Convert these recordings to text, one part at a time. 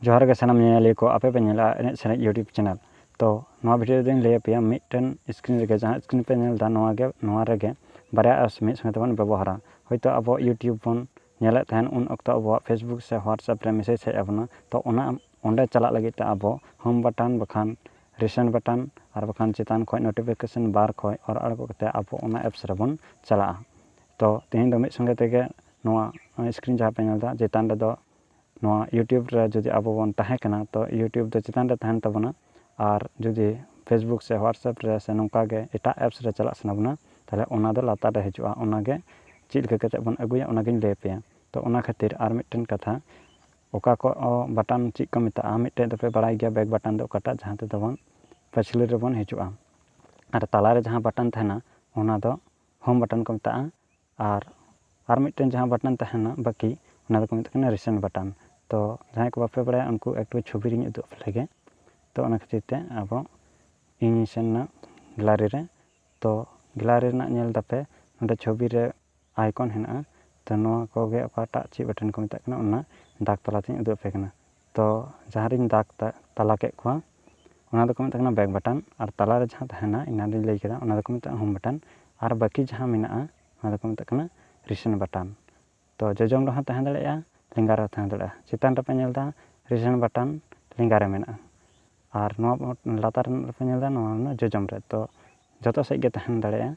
ᱡᱚᱦᱟᱨ ᱜᱮ ᱥᱟᱱᱟᱢ ᱧᱮᱧᱮᱞᱤᱭᱟᱹ ᱠᱚ ᱟᱯᱮ ᱯᱮ ᱧᱮᱞᱟ ᱮᱱᱮᱡ ᱥᱮᱨᱮᱧ ᱤᱭᱩᱴᱩᱵᱽ ᱪᱮᱱᱮᱞ ᱛᱚ ᱱᱚᱣᱟ ᱵᱷᱤᱰᱤᱭᱳ ᱨᱮᱫᱚᱧ ᱞᱟᱹᱭ ᱟᱯᱮᱭᱟ ᱢᱤᱫᱴᱮᱱ ᱥᱠᱨᱤᱱ ᱨᱮᱜᱮ ᱡᱟᱦᱟᱸ ᱥᱠᱨᱤᱱ ᱯᱮ ᱧᱮᱞ ᱮᱫᱟ ᱱᱚᱣᱟ ᱜᱮ ᱱᱚᱣᱟ ᱨᱮᱜᱮ ᱵᱟᱨᱭᱟ ᱮᱯᱥ ᱢᱤᱫ ᱥᱚᱸᱜᱮ ᱛᱮᱵᱚᱱ ᱵᱮᱵᱚᱦᱟᱨᱟ ᱦᱳᱭᱛᱳ ᱟᱵᱚ ᱤᱭᱩᱴᱩᱵᱽ ᱵᱚᱱ ᱧᱮᱞᱮᱫ ᱛᱟᱦᱮᱱ ᱩᱱ ᱚᱠᱛᱚ ᱟᱵᱚᱣᱟᱜ ᱯᱷᱮᱥᱵᱩᱠ ᱥᱮ ᱦᱳᱣᱟᱴᱥᱮᱯ ᱨᱮ ᱢᱮᱥᱮᱡᱽ ᱦᱮᱡ ᱟᱵᱚᱱᱟ ᱛᱚ ᱚᱱᱟ ᱚᱸᱰᱮ ᱪᱟᱞᱟᱜ ᱞᱟᱹᱜᱤᱫ ᱛᱮ ᱟᱵᱚ ᱦᱳᱢ ᱵᱟᱴᱚᱱ ᱵᱟᱠᱷᱟᱱ ᱨᱤᱥᱮᱱᱴ ᱵᱟᱴᱚᱱ ᱟᱨ ᱵᱟᱠᱷᱟᱱ ᱪᱮᱛᱟᱱ ᱠᱷᱚᱱ ᱱᱳᱴᱤᱯᱷᱤᱠᱮᱥᱚᱱ ᱵᱟᱨ ᱠᱷᱚᱱ ᱚᱨ ᱟᱬᱜᱚ ᱠᱟᱛᱮᱫ ᱟᱵᱚ ᱚᱱᱟ ᱮᱯᱥ ᱨᱮᱵᱚᱱ ᱪᱟᱞᱟᱜᱼᱟ ᱛᱚ ᱛᱮᱦᱮᱧ ᱫᱚ ᱢᱤᱫ ᱥᱚᱸᱜᱮ ᱛᱮᱜᱮ ᱱᱚᱣᱟ ᱥᱠᱨᱤᱱ ᱡᱟᱦᱟᱸ ᱯᱮ ᱧᱮᱞ ᱮᱫᱟ ᱪᱮᱛᱟᱱ ᱨᱮᱫᱚ ᱱᱚᱣᱟ ᱤᱭᱩᱴᱩᱵᱽ ᱨᱮ ᱡᱩᱫᱤ ᱟᱵᱚ ᱵᱚᱱ ᱛᱟᱦᱮᱸ ᱠᱟᱱᱟ ᱛᱚ ᱤᱭᱩᱴᱩᱵᱽ ᱫᱚ ᱪᱮᱛᱟᱱ ᱨᱮ ᱛᱟᱦᱮᱱ ᱛᱟᱵᱚᱱᱟ ᱟᱨ ᱡᱩᱫᱤ ᱯᱷᱮᱥᱵᱩᱠ ᱥᱮ ᱦᱳᱣᱟᱴᱥᱮᱯ ᱨᱮ ᱥᱮ ᱱᱚᱝᱠᱟ ᱜᱮ ᱮᱴᱟᱜ ᱮᱯᱥ ᱨᱮ ᱪᱟᱞᱟᱜ ᱥᱟᱱᱟ ᱵᱚᱱᱟ ᱛᱟᱦᱚᱞᱮ ᱚᱱᱟ ᱫᱚ ᱞᱟᱛᱟᱨ ᱨᱮ ᱦᱤᱡᱩᱜᱼᱟ ᱚᱱᱟ ᱜᱮ ᱪᱮᱫ ᱞᱮᱠᱟ ᱠᱟᱛᱮᱫ ᱵᱚᱱ ᱟᱹᱜᱩᱭᱟ ᱚᱱᱟ ᱜᱮᱧ ᱞᱟᱹᱭ ᱟᱯᱮᱭᱟ ᱛᱚ ᱚᱱᱟ ᱠᱷᱟᱹᱛᱤᱨ ᱟᱨ ᱢᱤᱫᱴᱮᱱ ᱠᱟᱛᱷᱟ ᱚᱠᱟ ᱠᱚ ᱵᱟᱴᱟᱱ ᱪᱮᱫ ᱠᱚ ᱢᱮᱛᱟᱜᱼᱟ ᱢᱤᱫᱴᱮᱡ ᱫᱚᱯᱮ ᱵᱟᱲᱟᱭ ᱜᱮᱭᱟ ᱵᱮᱠ ᱵᱟᱴᱟᱱ ᱫᱚ ᱚᱠᱟᱴᱟᱜ ᱡᱟᱦᱟᱸ ᱛᱮᱫᱚ ᱵᱚᱱ ᱯᱟᱹᱪᱷᱞᱟᱹ ᱨᱮᱵᱚᱱ ᱦᱤᱡᱩᱜᱼᱟ ᱟᱨ ᱛᱟᱞᱟ ᱨᱮ ᱡᱟᱦᱟᱸ ᱵᱟᱴᱟᱱ ᱛᱟᱦᱮᱱᱟ ᱚᱱᱟ ᱫᱚ ᱦᱳᱢ ᱵᱟᱴᱚᱱ ᱠᱚ ᱢᱮᱛᱟᱜᱼᱟ ᱟᱨ ᱟᱨ ᱢᱤᱫᱴᱮᱱ ᱡᱟᱦᱟᱸ ᱵᱟᱴᱚᱱ ᱛᱟᱦᱮᱱᱟ ᱵᱟᱹᱠᱤ ᱚᱱᱟ ᱫᱚᱠᱚ ᱢᱮᱛᱟᱜ ᱠᱟᱱᱟ ᱨᱤᱥᱮᱱᱴ ᱵᱟᱴᱚᱱ ᱛᱚ ᱡᱟᱦᱟᱸᱭ ᱠᱚ ᱵᱟᱯᱮ ᱵᱟᱲᱟᱭᱟ ᱩᱱᱠᱩ ᱮᱠᱴᱩ ᱪᱷᱚᱵᱤ ᱨᱮᱧ ᱩᱫᱩᱜ ᱟᱯᱮ ᱞᱮᱜᱮ ᱛᱚ ᱚᱱᱟ ᱠᱷᱟᱹᱛᱤᱨ ᱛᱮ ᱟᱵᱚ ᱤᱧᱤᱧ ᱥᱮᱱ ᱮᱱᱟ ᱜᱮᱞᱟᱨᱤ ᱨᱮ ᱛᱚ ᱜᱮᱞᱟᱨᱤ ᱨᱮᱱᱟᱜ ᱧᱮᱞ ᱮᱫᱟᱯᱮ ᱱᱚᱰᱮ ᱪᱷᱚᱵᱤ ᱨᱮ ᱟᱭᱠᱚᱱ ᱦᱮᱱᱟᱜᱼᱟ ᱛᱚ ᱱᱚᱣᱟ ᱠᱚᱜᱮ ᱚᱠᱟᱴᱟᱜ ᱪᱮᱫ ᱵᱟᱴᱚᱱ ᱠᱚ ᱢᱮᱛᱟᱜ ᱠᱟᱱᱟ ᱚᱱᱟ ᱫᱟᱜᱽ ᱛᱟᱞᱟᱛᱮᱧ ᱩᱫᱩᱜ ᱟᱯᱮ ᱠᱟᱱᱟ ᱛᱚ ᱡᱟᱦᱟᱸ ᱨᱮᱧ ᱫᱟᱜᱽ ᱛᱟᱞᱟ ᱠᱮᱫ ᱠᱚᱣᱟ ᱚᱱᱟ ᱫᱚᱠᱚ ᱢᱮᱛᱟᱜ ᱠᱟᱱᱟ ᱵᱮᱠ ᱵᱟᱴᱟᱱ ᱟᱨ ᱛᱟᱞᱟ ᱨᱮ ᱡᱟᱦᱟᱸ ᱛᱟᱦᱮᱱᱟ ᱮᱱᱟᱱ ᱨᱮᱧ ᱞᱟᱹᱭ ᱠᱮᱫᱟ ᱚᱱᱟ ᱫᱚᱠᱚ ᱢᱮᱛᱟᱜᱼᱟ ᱦᱳᱢ ᱵᱟᱴᱟᱱ ᱟᱨ ᱵᱟᱹᱠᱤ ᱡᱟᱦᱟᱸ ᱢᱮᱱᱟᱜᱼᱟ ᱚᱱᱟ ᱫᱚᱠᱚ ᱢᱮᱛᱟᱜ ᱠᱟᱱᱟ ᱨᱤᱥᱮᱱ ᱵᱟᱴᱟᱱ ᱛᱚ ᱡᱚᱡᱚᱢ ᱨᱮᱦᱚᱸ ᱛᱟᱦᱮᱸ ᱫᱟᱲᱮᱭᱟᱜᱼᱟ ᱞᱮᱸᱜᱟ ᱨᱮᱦᱚᱸ ᱛᱟᱦᱮᱸ ᱫᱟᱲᱮᱭᱟᱜᱼᱟ ᱪᱮᱛᱟᱱ ᱨᱮᱯᱮ ᱧᱮᱞ ᱮᱫᱟ ᱨᱤᱥᱮᱱ ᱵᱟᱴᱟᱱ ᱞᱮᱸᱜᱟ ᱨᱮ ᱢᱮᱱᱟᱜᱼᱟ ᱟᱨ ᱱᱚᱣᱟ ᱞᱟᱛᱟᱨ ᱨᱮᱱᱟᱜ ᱯᱮ ᱧᱮᱞ ᱮᱫᱟ ᱱᱚᱣᱟ ᱨᱮᱱᱟᱜ ᱡᱚᱡᱚᱢ ᱨᱮ ᱛᱚ ᱡᱚᱛᱚ ᱥᱮᱫ ᱜᱮ ᱛᱟᱦᱮᱸ ᱫᱟᱲᱮᱭᱟᱜᱼᱟ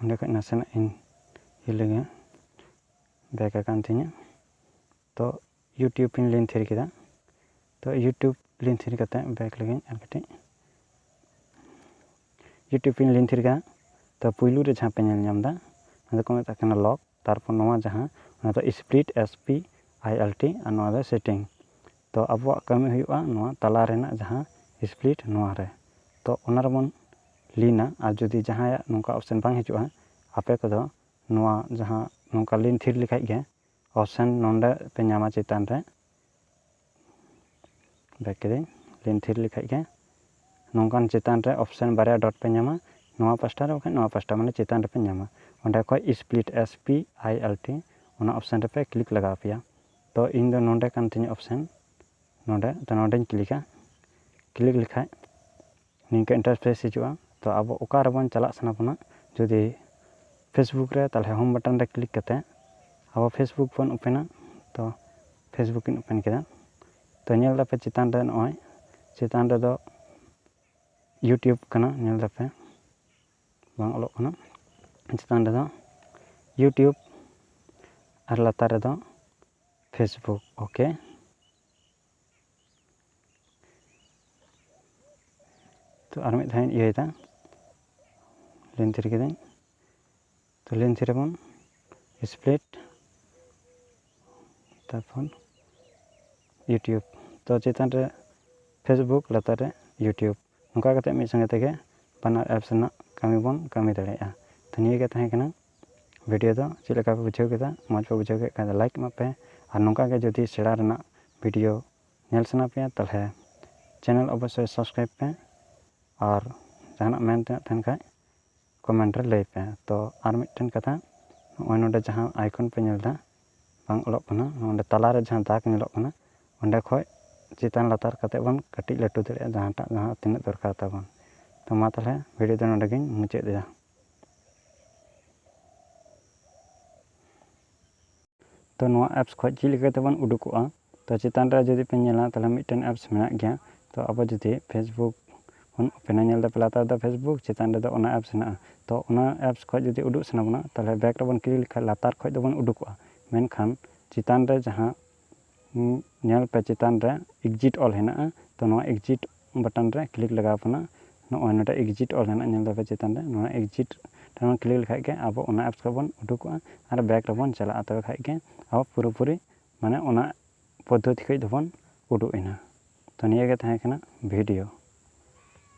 ᱚᱸᱰᱮ ᱠᱷᱚᱡ ᱱᱟᱥᱮᱱᱟᱜ ᱤᱧ ᱤᱭᱟᱹ ᱞᱮᱜᱮ ᱵᱮᱠ ᱟᱠᱟᱱ ᱛᱤᱧᱟᱹ ᱛᱚ ᱤᱭᱩᱴᱩᱵᱽ ᱤᱧ ᱞᱤᱝᱠ ᱛᱷᱤᱨ ᱠᱮᱫᱟ ᱛᱚ ᱤᱭᱩᱴᱩᱵᱽ ᱞᱤᱝᱠ ᱛᱷᱤᱨ ᱠᱟᱛᱮ ᱵᱮᱠ ᱞᱮᱜᱮᱧ ᱟᱨ ᱠᱟᱹᱴᱤᱡ ᱤᱭᱩᱴᱩᱵᱽ ᱤᱧ ᱞᱤᱝᱠ ᱛᱷᱤᱨ ᱠᱮᱫᱟ ᱛᱚ ᱯᱩᱭᱞᱩ ᱨᱮ ᱡᱟᱦᱟᱸ ᱯᱮ ᱧᱮᱞ ᱧᱟᱢᱫᱟ ᱚᱱᱟ ᱫᱚᱠᱚ ᱢᱮᱛᱟᱜ ᱠᱟᱱᱟ ᱞᱚᱠ ᱛᱟᱨᱯᱚᱨ ᱱᱚᱣᱟ ᱡᱟᱦᱟᱸ ᱚᱱᱟ ᱫᱚ split S P I L T ᱟᱨ ᱱᱚᱣᱟ ᱫᱚ ᱥᱮᱴᱤᱝ ᱛᱚ ᱟᱵᱚᱣᱟᱜ ᱠᱟᱹᱢᱤ ᱦᱩᱭᱩᱜᱼᱟ ᱱᱚᱣᱟ ᱛᱟᱞᱟ ᱨᱮᱱᱟᱜ ᱡᱟᱦᱟᱸ ᱥᱯᱞᱤᱴ ᱱᱚᱣᱟ ᱨᱮ ᱛᱚ ᱚᱱᱟ ᱨᱮᱵᱚᱱ ᱞᱤᱱᱟ ᱟᱨ ᱡᱩᱫᱤ ᱡᱟᱦᱟᱸᱭᱟᱜ ᱱᱚᱝᱠᱟ ᱚᱯᱥᱮᱱ ᱵᱟᱝ ᱦᱤᱡᱩᱜᱼᱟ ᱟᱯᱮ ᱠᱚᱫᱚ ᱱᱚᱣᱟ ᱡᱟᱦᱟᱸ ᱱᱚᱝᱠᱟ ᱞᱤᱱ ᱛᱷᱤᱨ ᱞᱮᱠᱷᱟᱡ ᱜᱮ ᱚᱯᱥᱮᱱ ᱱᱚᱰᱮ ᱯᱮ ᱧᱟᱢᱟ ᱪᱮᱛᱟᱱ ᱨᱮ ᱵᱮᱠ ᱠᱤᱫᱟᱹᱧ ᱞᱤᱱ ᱛᱷᱤᱨ ᱞᱮᱠᱷᱟᱡ ᱜᱮ ᱱᱚᱝᱠᱟᱱ ᱪᱮᱛᱟᱱ ᱨᱮ ᱚᱯᱥᱮᱱ ᱵᱟᱨᱭᱟ ᱰᱚᱴ ᱯᱮ ᱧᱟᱢᱟ ᱱᱚᱣᱟ ᱯᱟᱥᱴᱟ ᱨᱮ ᱵᱟᱠᱷᱟᱡ ᱱᱚᱣᱟ ᱯᱟᱥᱴᱟ ᱢᱟᱱᱮ ᱪᱮᱛᱟᱱ ᱨᱮᱯᱮ ᱧᱟᱢᱟ ᱚᱸᱰᱮ ᱠᱷᱚᱡ split S P I L T ᱚᱱᱟ ᱚᱯᱥᱮᱱ ᱨᱮᱯᱮ ᱠᱞᱤᱠ ᱞᱟᱜᱟᱣ ᱯᱮᱭᱟ ᱛᱚ ᱤᱧ ᱫᱚ ᱱᱚᱸᱰᱮ ᱠᱟᱱ ᱛᱤᱧᱟᱹ ᱚᱯᱥᱮᱱ ᱱᱚᱸᱰᱮ ᱛᱚ ᱱᱚᱸᱰᱮᱧ ᱠᱞᱤᱠᱟ ᱠᱞᱤᱠ ᱞᱮᱠᱷᱟᱡ ᱱᱤᱝᱠᱟᱹ ᱤᱱᱴᱟᱨᱯᱷᱮᱥ ᱦᱤᱡᱩᱜᱼᱟ ᱛᱚ ᱟᱵᱚ ᱚᱠᱟ ᱨᱮᱵᱚᱱ ᱪᱟᱞᱟᱜ ᱥᱟᱱᱟ ᱵᱚᱱᱟ ᱡᱩᱫᱤ ᱯᱷᱮᱥᱵᱩᱠ ᱨᱮ ᱛᱟᱦᱚᱞᱮ ᱦᱳᱢ ᱵᱟᱴᱚᱱ ᱨᱮ ᱠᱞᱤᱠ ᱠᱟᱛᱮ ᱟᱵᱚ ᱯᱷᱮᱥᱵᱩᱠ ᱵᱚᱱ ᱳᱯᱮᱱᱟ ᱛᱚ ᱯᱷᱮᱥᱵᱩᱠ ᱤᱧ ᱳᱯᱮᱱ ᱠᱮᱫᱟ ᱛᱚ ᱧᱮᱞ ᱫᱟᱯᱮ ᱪᱮᱛᱟᱱ ᱨᱮ ᱱᱚᱜᱼᱚᱭ ᱪᱮᱛᱟᱱ ᱨᱮᱫᱚ ᱤᱭᱩᱴᱩᱵᱽ ᱠᱟᱱᱟ ᱧᱮᱞ ᱫᱟᱯᱮ ᱵᱟᱝ ᱚᱞᱚᱜ ᱠᱟᱱᱟ ᱪᱮᱛᱟᱱ ᱨᱮᱫᱚ ᱤᱭᱩᱴᱩᱵᱽ ᱟᱨ ᱞᱟᱛᱟᱨ ᱨᱮᱫᱚ ᱯᱷᱮᱥᱵᱩᱠ ᱳᱠᱮ ᱛᱚ ᱟᱨ ᱢᱤᱫ ᱫᱷᱟᱣ ᱤᱧ ᱤᱭᱟᱹᱭᱮᱫᱟ ᱞᱮᱱ ᱛᱷᱤᱨ ᱠᱤᱫᱟᱹᱧ ᱛᱚ ᱞᱮᱱ ᱛᱷᱤᱨ ᱟᱵᱚᱱ ᱥᱯᱞᱤᱴ ᱛᱟᱨᱯᱚᱨ ᱤᱭᱩᱴᱩᱵᱽ ᱛᱚ ᱪᱮᱛᱟᱱ ᱨᱮ ᱯᱷᱮᱥᱵᱩᱠ ᱞᱟᱛᱟᱨ ᱨᱮ ᱤᱭᱩᱴᱩᱵᱽ ᱱᱚᱝᱠᱟ ᱠᱟᱛᱮᱫ ᱢᱤᱫ ᱥᱚᱸᱜᱮ ᱛᱮᱜᱮ ᱵᱟᱱᱟᱨ ᱮᱯᱥ ᱨᱮᱱᱟᱜ ᱠᱟᱹᱢᱤ ᱵᱚᱱ ᱠᱟᱹᱢᱤ ᱫᱟᱲᱮᱭᱟᱜᱼᱟ ᱛᱚ ᱱᱤᱭᱟᱹᱜᱮ ᱛᱟᱦᱮᱸ ᱠᱟᱱᱟ ᱵᱷᱤᱰᱤᱭᱳ ᱫᱚ ᱪᱮᱫ ᱞᱮᱠᱟ ᱯᱮ ᱵᱩᱡᱷᱟᱹᱣ ᱠᱮᱫᱟ ᱢᱚᱡᱽ ᱯᱮ ᱵᱩᱡᱷᱟᱹᱣ ᱠᱮᱫ ᱠᱷᱟᱡ ᱫᱚ ᱞᱟᱭᱤᱠ ᱮᱢᱟᱜ ᱯᱮ ᱟᱨ ᱱᱚᱝᱠᱟ ᱜᱮ ᱡᱩᱫᱤ ᱥᱮᱬᱟ ᱨᱮᱱᱟᱜ ᱵᱷᱤᱰᱤᱭᱳ ᱧᱮᱞ ᱥᱟᱱᱟ ᱯᱮᱭᱟ ᱛᱟᱦᱚᱞᱮ ᱪᱮᱱᱮᱞ ᱚᱵᱚᱥᱥᱳᱭ ᱥᱟᱵᱥᱠᱨᱟᱭᱤᱵᱽ ᱯᱮ ᱟᱨ ᱡᱟᱦᱟᱱᱟᱜ ᱢᱮᱱ ᱛᱮᱱᱟᱜ ᱛᱟᱦᱮᱱ ᱠᱷᱟᱡ ᱠᱚᱢᱮᱱᱴ ᱨᱮ ᱞᱟᱹᱭ ᱯᱮ ᱛᱚ ᱟᱨ ᱢᱤᱫᱴᱮᱱ ᱠᱟᱛᱷᱟ ᱱᱚᱜᱼᱚᱭ ᱱᱚᱰᱮ ᱡᱟᱦᱟᱸ ᱟᱭᱠᱚᱱ ᱯᱮ ᱧᱮᱞ ᱮᱫᱟ ᱵᱟᱝ ᱚᱞᱚᱜ ᱠᱟᱱᱟ ᱱᱚᱰᱮ ᱛᱟᱞᱟ ᱨᱮ ᱡᱟᱦᱟᱸ ᱫᱟᱜᱽ ᱧᱮᱞᱚᱜ ᱠᱟᱱᱟ ᱚᱸᱰᱮ ᱠᱷᱚᱡ ᱪᱮᱛᱟᱱ ᱞᱟᱛᱟᱨ ᱠᱟᱛᱮ ᱵᱚᱱ ᱠᱟᱹᱴᱤᱡ ᱞᱟᱹᱴᱩ ᱫᱟᱲᱮᱭᱟᱜᱼᱟ ᱡᱟᱦᱟᱸᱴᱟᱜ ᱡᱟᱦᱟᱸ ᱛᱤᱱᱟᱹᱜ ᱫᱚᱨᱠᱟᱨ ᱛᱟᱵᱚᱱ ᱛᱚ ᱢᱟ ᱛᱟᱦᱚᱞᱮ ᱵᱷᱤᱰᱤᱭᱳ ᱫᱚ ᱱᱚᱰᱮ ᱜᱮᱧ ᱢᱩᱪᱟᱹᱫ ᱮᱫᱟ ᱛᱚ ᱱᱚᱣᱟ ᱮᱯᱥ ᱠᱷᱚᱡ ᱪᱮᱫ ᱞᱮᱠᱟ ᱛᱮᱵᱚᱱ ᱩᱰᱩᱠᱚᱜᱼᱟ ᱛᱚ ᱪᱮᱛᱟᱱ ᱨᱮ ᱡᱩᱫᱤ ᱯᱮ ᱧᱮᱞᱟ ᱛᱟᱦᱚᱞᱮ ᱢᱤᱫᱴᱮᱱ ᱮᱯᱥ ᱢᱮᱱᱟᱜ ᱜᱮᱭᱟ ᱛᱚ ᱟᱵᱚ ᱡᱩᱫᱤ ᱯᱷᱮᱥᱵᱩᱠ ᱵᱚᱱ ᱳᱯᱮᱱᱟ ᱧᱮᱞ ᱫᱟᱯᱮ ᱞᱟᱛᱟᱨ ᱨᱮᱫᱚ ᱯᱷᱮᱥᱵᱩᱠ ᱪᱮᱛᱟᱱ ᱨᱮᱫᱚ ᱚᱱᱟ ᱮᱯᱥ ᱢᱮᱱᱟᱜᱼᱟ ᱛᱚ ᱚᱱᱟ ᱮᱯᱥ ᱠᱷᱚᱡ ᱡᱩᱫᱤ ᱩᱰᱩᱠ ᱥᱟᱱᱟ ᱵᱚᱱᱟ ᱛᱟᱦᱚᱞᱮ ᱵᱮᱠ ᱨᱮᱵᱚᱱ ᱠᱞᱤᱠ ᱞᱮᱠᱷᱟᱡ ᱞᱟᱛᱟᱨ ᱠᱷᱚᱡ ᱫᱚᱵᱚᱱ ᱩᱰᱩᱠᱚᱜᱼᱟ ᱢᱮᱱᱠᱷᱟᱱ ᱪᱮᱛᱟᱱ ᱨᱮ ᱡᱟᱦᱟᱸ ᱧᱮᱞ ᱯᱮ ᱪᱮᱛᱟᱱ ᱨᱮ ᱮᱠᱡᱤᱴ ᱚᱞ ᱦᱮᱱᱟᱜᱼᱟ ᱛᱚ ᱱᱚᱣᱟ ᱮᱠᱡᱤᱴ ᱵᱟᱴᱚᱱ ᱨᱮ ᱠᱞᱤᱠ ᱞᱟᱜᱟᱣ ᱯᱮᱱᱟ ᱱᱚᱜᱼᱚᱭ ᱱᱚᱰᱮ ᱮᱠᱡᱤᱴ ᱚᱞ ᱦᱮᱱᱟᱜᱼᱟ ᱧᱮᱞ ᱫᱟᱯᱮ ᱪᱮᱛᱟᱱ ᱨᱮ ᱱᱚᱣᱟ ᱮᱠᱡᱤᱴ ᱴᱷᱮᱱ ᱠᱞᱤᱠ ᱞᱮᱠᱷᱟᱡ ᱜᱮ ᱟᱵᱚ ᱚᱱᱟ ᱮᱯᱥ ᱠᱷᱚᱡ ᱵᱚᱱ ᱩᱰᱩᱠᱚᱜᱼᱟ ᱟᱨ ᱵᱮᱠ ᱨᱮᱵᱚᱱ ᱪᱟᱞᱟᱜᱼᱟ ᱛᱚᱵᱮ ᱠᱷᱟᱡ ᱜᱮ ᱟᱵᱚ ᱯᱩᱨᱟᱹ ᱯᱩᱨᱤ ᱢᱟᱱᱮ ᱚᱱᱟ ᱯᱚᱫᱽᱫᱷᱚᱛᱤ ᱠᱷᱚᱡ ᱫᱚᱵᱚᱱ ᱩᱰᱩᱠ ᱮᱱᱟ ᱛᱚ ᱱᱤᱭᱟᱹ ᱜᱮ ᱛᱟᱦᱮᱸ ᱠᱟᱱᱟ ᱵᱷᱤᱰᱤᱭᱳ